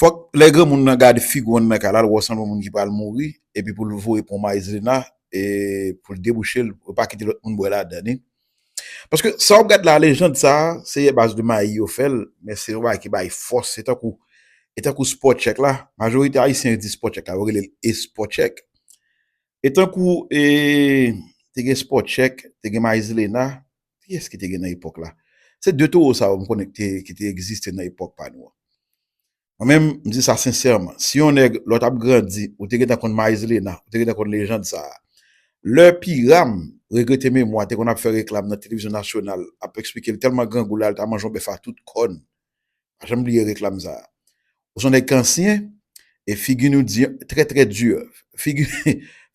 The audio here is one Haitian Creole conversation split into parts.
Fòk lè granmoun nan gad fig wan nan ka lal wè w sanble w moun ki pral mouri epi pou l voye pon Maizlina e pou l debouche l pou l pa kite lòt moun bwè ladann e paske sa w ap gad la lejand sa a se ye baz de mayi yo fè l men se yon bagay ki bay fòs se tankou e tankou spò tchèk la majorite ayisyen yo di spò tchèk la yo rele l espò tchèk e tankou e te gen spò tchèk te gen Maizlina Kiyès ki te gen nan epòk la? Se de towo sa yo m konnen ki te egziste nan epòk pa nou an. Mwen menm, m di sa sensèman, si yon nèg lè w t ap grandi, ou te gentan konn Maïzlena, ou te gentan konn lejand sa a. Lè Pyram, regrete memwa, te konn ap fè reklam nan televizyon nasyonal, ap esplike l tèlman grangou la, l ta manje yon bèf a tout kòn. Pa janm bliye reklam sa. Ou son nèg k ansyen e figi nou di trè trè dur. Figi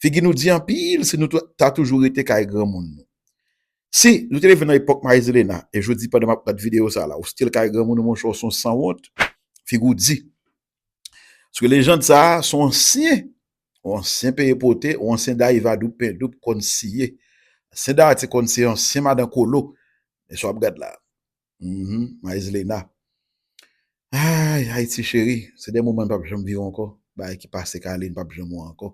figi nou di anpil si nou ta toujou rete kay granmoun nou. Si nou te leve nan epòk Marizilena e jodi pandan m ap gad videyo sa la ou still kay granmoun ou monchè ou son sanwont, figi w di. Paske lejand sa son ansyen, yon ansyen peye pote, yon ansyen dayiva doub pen doub konn siye. Ansyen dati konn siye, ansyen madan kolo. Men sa w ap gad la. Uhmm Maizlena Ayy Haiti chérie se de moman m pap janm viv ankò bagay ki pase Carline pap janm wè ankò